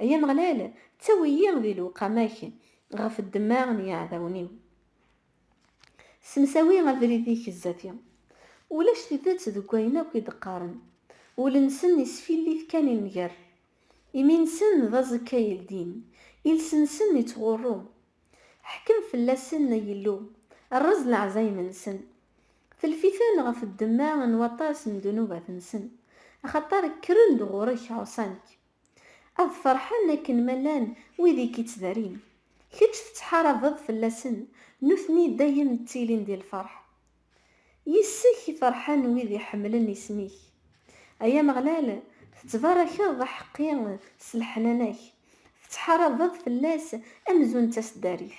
Ay Ameɣlal, ttawi-yi di lewqama-k ɣef ddemma n yiɛdawen-iw. Ssemsawi abrid-ik zdat-i. Ulac tidet deg wayen akk i d-qqaren, ul-nsen isfillit kan i nnger. Imi-nsen d aẓekka yeldin, iles-nsen ittɣurru. Ḥkem fell-asen, ay Illu, rreẓ leɛzayem-nsen. Telf-iten ɣef ddemma n waṭas n ddnubat-nsen, axaṭer kkren-d ɣur-k ɛuṣan-k. Ad ferḥen akken ma llan wid i k-ittdarin. Kečč tettḥarabeḍ fell-asen, nutni dayem ttilin di lferḥ. Yis-k i ferḥen wid iḥemmlen isem-ik. Ay Ameɣlal, tettbarakeḍ aḥeqqi s leḥnana-k, tettḥarabeḍ fell-as amzun d taseddarit.